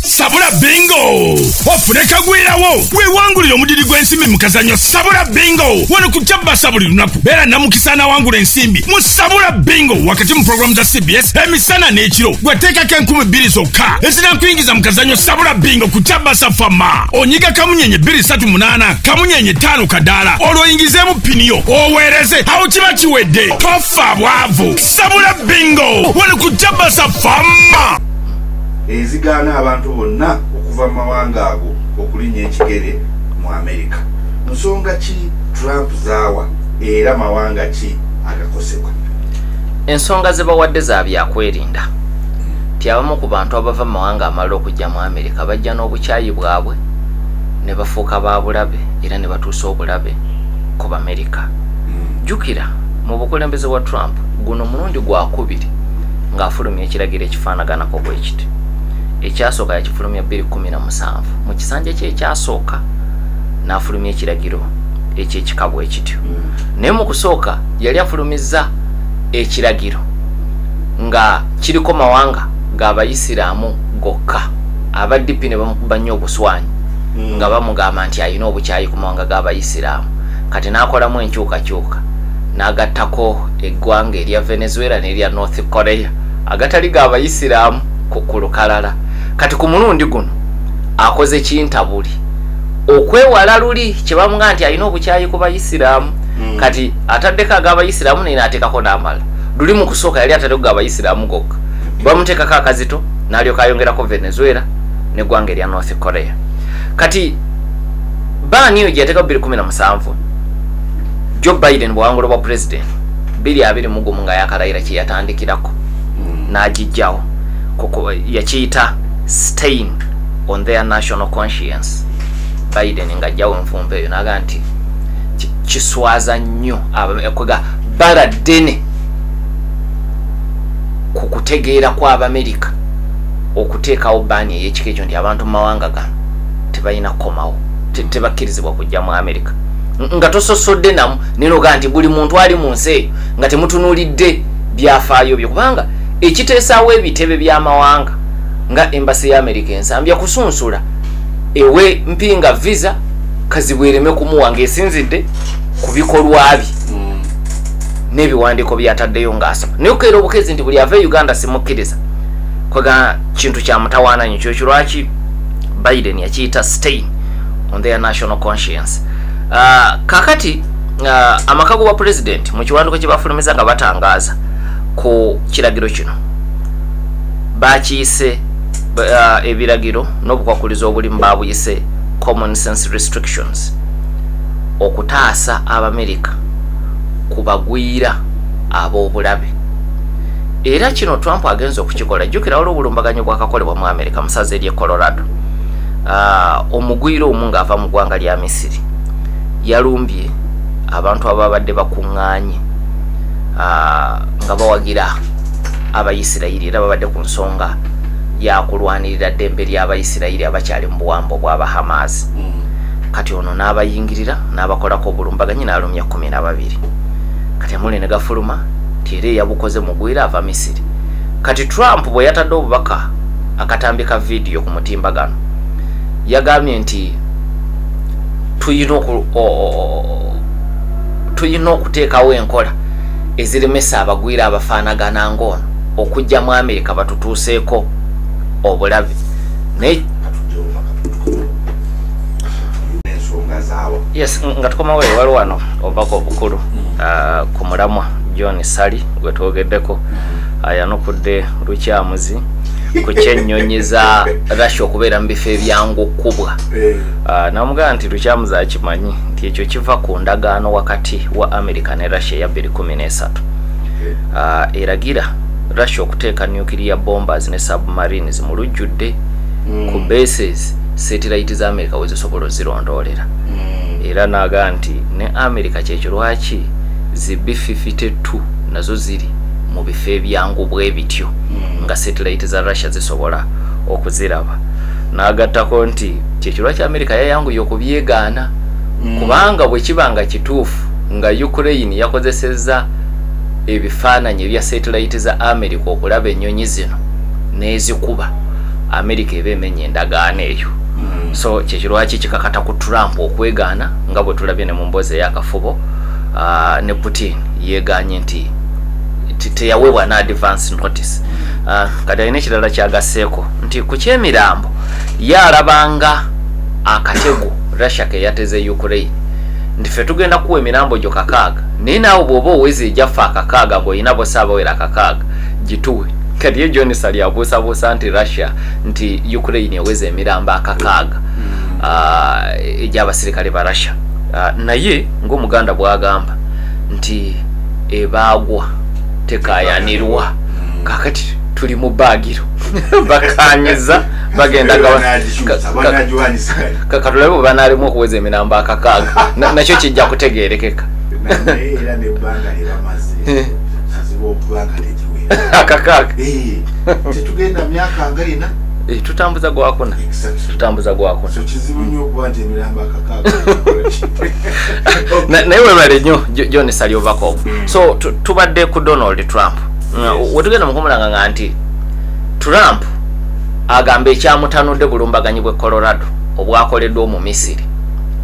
sabula bingo ofune kagwirawo wewangulire omudiri gw'ensimbi mu kazanyo sabula bingo wano ku kyabasa buli lunaku beera namukisa anawangula ensimbi mu sabula bingo wakati mu pulogulaamu za cbs emisana n'ekiro gweteekako enkumi bbiri zokka ezinakuyingiza mu kazanyo sabula bingo ku kyabasa fama onyiga kamunyenye bbiri satu munaana kamunyenye ttaano kadaala olwoyingizeemu pini yo oweereze awo kiba kiwedde toffa bwavu sabula bingo wali ku jabasa fama ezigaana abantu bonna okuva mu mawanga ago okulinya ekigere mu amerika nsonga ki trump zaawa era mawanga ki agakosebwa ensonga ze bawadde za byakwerinda ti abamu ku bantu abava mu mawanga amalala okujja mu amerika nga bajja n'obukyayi bwabwe ne bafuuka ba bulabe era ne batuusa obulabe ku bamerika hmm. jjukira mu bukulembeze wa trump guno mulundi gwakubiri ng'afulumya ekiragiro ekifaanaganako bwe kiti ekyasooka yakifulumya 217 mu kisanja kyekyasooka n'afulumya ekiragiro ekyekika bwe kityo hmm. naye mu kusooka yali afulumizza ekiragiro nga kiriko mawanga g'abayisiraamu gokka aba dp ne bamukuba nnyo obuswanyi hmm. nga bamugamba nti alina obukyayi ku mawanga g'abayisiraamu kati n'akolamu enkyukakyuka n'agattako eggwanga erya venezuela n'erya north korea agatali ga abayisiraamu ku lukalala kati ku mulundi guno akoze kintabuli okwewala luli kyebamuga nti alina obukyayi ku bayisiraamu hmm. kati ataddeko ag'abayisiraamu naye n'ateekako n'amala luli mu kusooka yali ataddeko ga abayisiraamu gokka bamuteekako akazito nalyoka ayongerako venezuela negwanga erya north korea kati baani eyo gyeyateeka bubiri kumi na musanvu jo biden bwawangula obwa president biri abiri mugumu nga yakalayira kyeyatandikirako hmm. nagijjawo yakiyita stain on their national conscience biden nga ajjawo enfumba eyo naga nti kiswaza nnyo kwega bala ddene ku kutegeera kw'abamerika okuteekawo baani ey'ekika ekyo nti abantu mu mawanga gano tebalina kukomawo tebakkirizibwa kujja mu amerika nga tososodde namu nenoga nti buli muntu ali mu nsi eyo nga temutunuulidde byafaayo byo kubanga ekiteesaawo ebitebe by'amawanga nga embasi ya amerika ensambya kusunsula ewe mpinga visa kazibwereme kumuwa ngaesinzidde ku bikolwa bye n'ebiwandiiko byataddeyo ng'asaba naye okukeera obukezi nti buli ava e uganda simukkiriza kwega kintu kya mutawaana nyo kyokyo lwaki biden yakiyita stain on their national conscience uh, kakati uh, amaka gobwa pulezidenti mu kiwanduko kye bafulumiza nga batangaaza ku kiragiro kino bakiyise uh, ebiragiro n'obukwakulizo obulimu babuyise common sense restrictions okutaasa abamerika ku bagwira ab'obulabe era kino trump agenza okukikola jjukira waliwo obulumbaganyo bwakakolebwa mu america musaza ery'e colorado ah, omugwira omu ng'ava mu ggwanga lya misiri yalumbye abantu ababadde bakuŋŋaanye ah, nga bawagira abayisirayiri era babadde ku nsonga yakulwanirira ddembe ly'abayisirayiri abakyali mu buwambo bw'abahamaazi mm. kati ono n'abayingirira n'abakolako obulumbaganyi n'alumya kumi na babiri kati amuli ne gafuluma nti era eyabukoze mugwire ava misiri kati trump bwe yatadde obubaka akatambi ka vidiyo ku mutimba gano yagambye nti tulina okuteekawo enkola eziremesa abagwire abafaanagana ngaono okujja mu amerika batutuuseeko obulabe naye yes nga tukomawo ewali wano obubaka obukulu mm. ah, ku mulamwa john sali gwe twogeddeko mm. ah, yanukudde lukyamuzi ku kyennyonyi za russia okubeera mu bifo ebyangu okukubwa eh. ah, namugamba nti lukyamuzi akimanyi nti ekyo kiva ku ndagaano wakati wa america ne russia eya 213 eh. eragira russia okuteeka nuclear bombers ne submarines mu lujjudde mm. ku bases setilayiti za amerika wezisobola ozirondoolera hmm. era naga nti ne amerika kyekyo lwaki zi b52 nazo ziri mu bifo ebyangu bwe bityo hmm. nga setilayiti za russia zisobola okuziraba nagattako nti kyekyo lwaki amerika yayanguye okubyegaana hmm. kubanga bwe kiba nga kituufu nga ukraine yakozesezza ebifaananyi ebya setilayiti za amerika okulaba ennyonyi zino n'ezikuba amerika eba emenye endagaano eyo hmm. so kyekirwaki kikakata ku trump okwegaana nga bwe tulabye ne mu mboozi eyakafubo ah, ne putin yegaanye nti teyaweebwa na advance notice ah, kati alina ekirala kyagasseeko nti ku kyemirambo ye alabanga akatego russia ke yateze ukraine nti fe tugenda kuwa emirambo gyo kakaaga naye naawe bw'oba oweza egyaffe akakaaga ng'olina bosa abawera akakaaga gituwe kati ye john sali abuusabuusa nti russia nti ukraine eweza emirambo akakaaga hmm. ah, egy'abasirikale ba russia ah, naye ng'omuganda bwagamba nti ebaagwa tekayanirwa hmm. kakati tuli mu baagiro bakanyiza bagenda katulabe bwe banaalimu okuweza emirambo akakaaga nakyo kijja kutegeerekeka akakaaga eh. tetugenda myaka nga ina eh, tutambuza gwakuna tutambuza gwakuna naye webale nyo john saliovakov hmm. so tubadde ku donald trump uh, wetugenda mukumulanga nga nti trump agamba ekyamutanudde bulumbaganyi bwe colorado obwakoleddwa omu misiri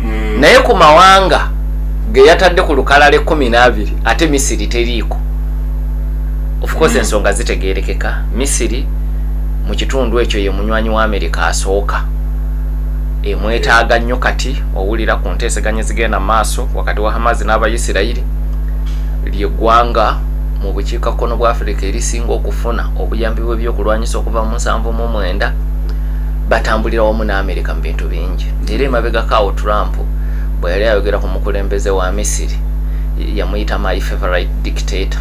hmm. naye ku mawanga geyatadde ku lukalala ekumi n'abiri ate misiri teriiko of course ensonga zitegerekeka misiri mu kitundu ekyo ye munywanyi wa amerika asooka emwetaaga nnyo kati owulira ku nteeseganya ezigenda mu maaso wakati wa hamazi n'abayisirayiri lyegwanga mu bukiikakkono bwa afirika erisinga okufuna obuyambi bw'ebyokulwanyisa okuva mu nsanvu mu mwenda batambulira wamu ne amerika mu bintu bingi era emabegakaawo trump bwe yali ayogera ku mukulembeze wa misiri yamuyita my favorite dictator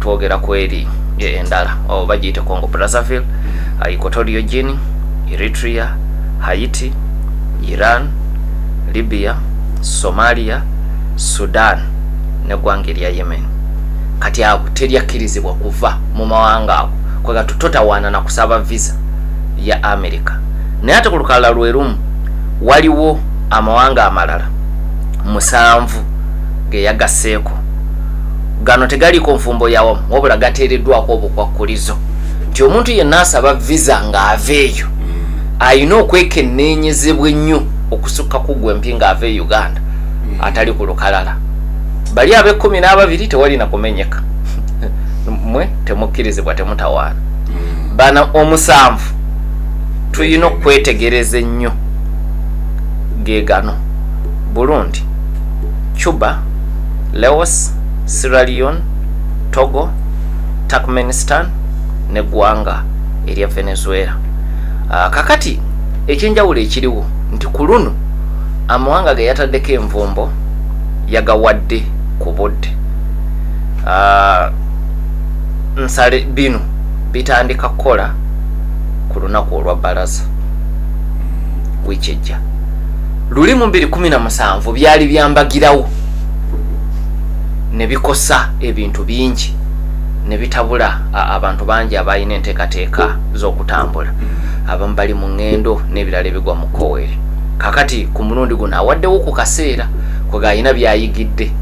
twogera ku eri endala oh, bagiyite congo brazzaville equatorio gini eritrea haiti iran libya somalia sudan neggwanga erya yemen kati ago teryakkirizibwa kuva mu mawanga ago kwega tutotawaana na kusaba visa ya america naye ate ku lukalala lwe lumu waliwo amawanga amalala musanvu geyagasseeko gano tegaliiko nfumbo yawamu wabula gateereddwako obukwakkulizo nti omuntu yenna asaba visa ng'ava eyo alina okwekenneenyezebwa ennyo okusukka ku gwe mpi ng'ava e uganda atali ku lukalala bali ab'ekkumi n'ababiri tewalina kumenyeka mwe temukkirizibwa temutawaana bana omusanvu tulina okwetegereza ennyo ge gano burundi cuba Laos, Sierra Leone, Togo, Turkmenistan ne gwanga erya Venezuela. Uh, kakati ekyenjawulo ekiriwo nti ku luno amawanga ge yataddeko envumbo yagawadde ku budde ah, nsale bino bitandika kukola ku lunaku olwa balaza wiiki ejja luli mu 217 byali byambagirawo ne bikosa ebintu bingi ne bitabula abantu bangi abalina enteekateeka z'okutambula mm. abamu bali mu ŋŋendo n'ebirala ebigwa mu koweri kakati ku mulundi guno awaddewo ku kaseera kwega alina byayigidde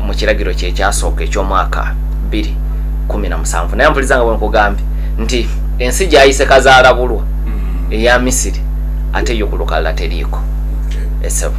mu kiragiro kyekyasooka eky'omwaka 217 naye mpuliza nga bwenkugambye nti ensi gyayise kazaalabulwa mm. eya misiri ate yo ku lukalala teriiko esebo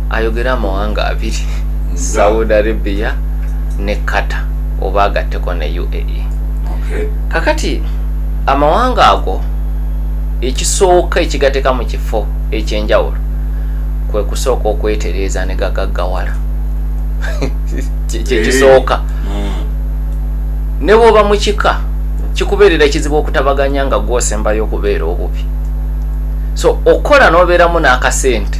ayogera amawanga abiri saudi arabia ne kata oba agatteko ne uae kakati amawanga ago ekisooka ekigateka mu kifo ekyenjawulo kwe kusooka okwetereeza ne gagaggawala kyekisooka eh. hmm. ne bwoba mu kika kikubeerera kizibu okutabaganya nga gwosembayo okubeera obubi so okukola n'obeeramu n'akasente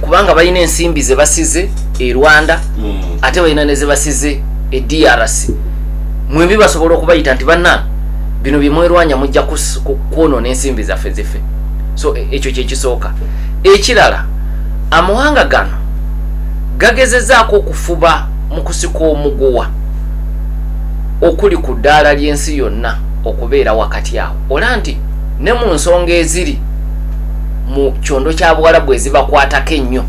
kubanga balina ensimbi zebasize e rwanda mm. ate balina nezebasize e drc mwembi basobola okubayita nti banna bino byemwerwanya mujja kwonona ensimbi zaffe zife so e, ekyo kyekisooka ekirala amawanga gano gagezezaako okufuba mu kusika omuguwa okuli ku ddaala ly'ensi yonna okubeera wakati awo ola nti ne mu nsonga eziri mu kyondo kya buwalabu ezibakwatako ennyo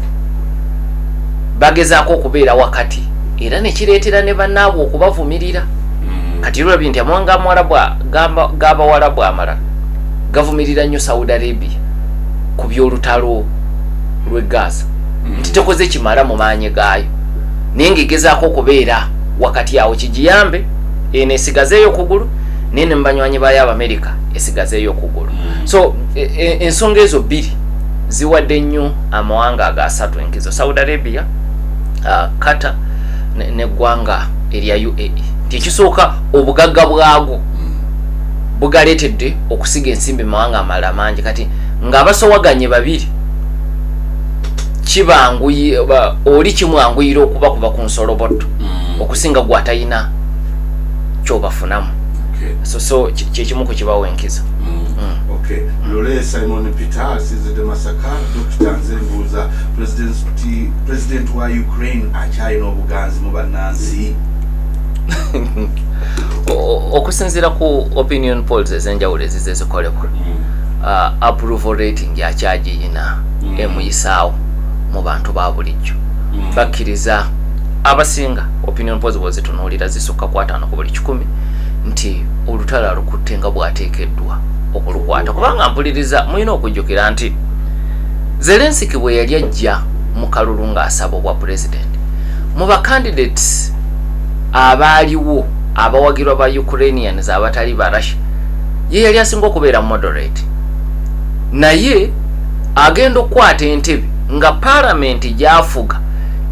bagezaako okubeera wakati era nekireetera ne banaabwe okubavumirira mm. kati lulabi nti amawanga amuwalabu gabawalabu amala gavumirira nnyo saudi arabia ku byolutalo lwe gaza mm. nti tekoze kimala mu maanyi gaayo naye ngaegezaako okubeera wakati awo kigiyambe eno esigazeeyo okugulu naye ne mubanywanyi baayo abamerika esigazeeyo okugulu mm. so e, e, ensonga ezo bbiri ziwadde nnyo amawanga ago asatu enkizo saudi arabia uh, qatar neggwanga ne erya uae nti ekisooka obugagga bwago bugaletedde okusiga ensimbi mumawanga amalala mangi kati ngaabasowaganye babiri kibanguyi oli kimwanguyira okuba kuba ku nsolobotto mm. okusinga gwatalina kyobafunamu so so kyekimu ku kibawo enkizo Okay. Lule Simon Peter sinze de Masaka Dr. Nze Mbuza President President wa Ukraine achai no buganzi mu banansi okusinzira ku opinion polls ezenjawulo ezize zikolebwa mm. uh, approval rating yakyagiyina mm. emuyisaawo mu bantu ba bulijjo mm. bakkiriza abasinga opinion polls bwezitunuulira zisukka kwataano ku buli kikumi nti olutalo alukutte nga bwateekeddwa okulukwata kubanga mpuliriza mulina okujjukira nti zelensiki bwe yali ajja mu kalulu ng'asaba obwa pulezidenti mu bacandidates abaaliwo abawagirwa ba ukrainians abatali ba russia ye yali asinga okubeera moderate naye agenda okukwata entebe nga palamenti gyafuga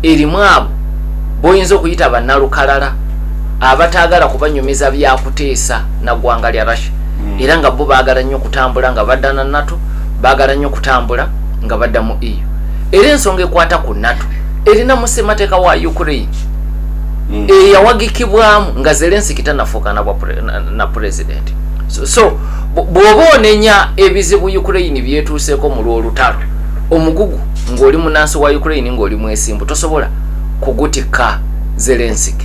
erimu abo boyinza okuyita bannalukalala abataagala kubanyumiza byakuteesa na ggwanga lya russia hmm. era nga bo baagala nnyo okutambula nga badda na nato baagala nnyo okutambula nga badda mu eu era ensonga ekwata ku nato erina mu ssemateeka wa ukraine hmm. eyawagikibwamu nga zelensiki tanafuuka na pulezidenti so bw'oba onenya ebizibu ukraine byetuuseeko mu lw'olutalo omugugu ng'oli munansi wa ukraine ng'oli mwesimbu tosobola kugutikka zelensiki